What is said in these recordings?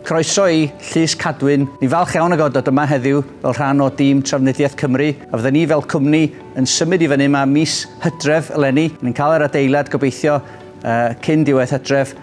Croeso i Llys Cadwyn. Ni'n falch iawn o gael dod yma heddiw fel rhan o dîm Trafnidiaeth Cymru a fydden ni fel cwmni yn symud i fyny yma mis hydref eleni. Ni'n cael yr adeilad gobeithio uh, cyn diwedd hydref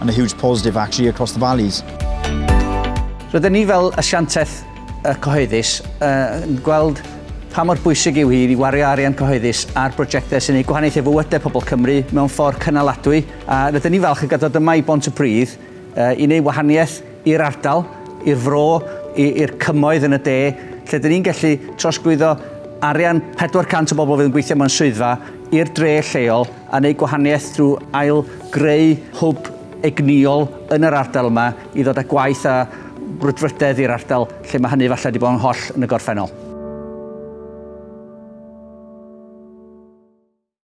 and a huge positive actually across the valleys. Rydyn ni fel asiantaeth cyhoeddus yn gweld pa mor bwysig yw hi i wario arian cyhoeddus ar brosiectau sy'n ei gwahaniaethu i fywydau pobl Cymru mewn ffordd cynaladwy a rydyn ni falch o gael dod yma i Bont y Pridd i wneud wahaniaeth i'r ardal, i'r fro, i'r cymoedd yn y de, lle dyn ni'n gallu trosglwyddo arian 400 o bobl fydd yn gweithio mewn swyddfa i'r dre lleol a wneud gwahaniaeth drwy ail greu hwb egnïol yn yr ardal yma i ddod â gwaith a brwdfrydedd i'r ardal lle mae hynny falle wedi bod yn holl yn y gorffennol.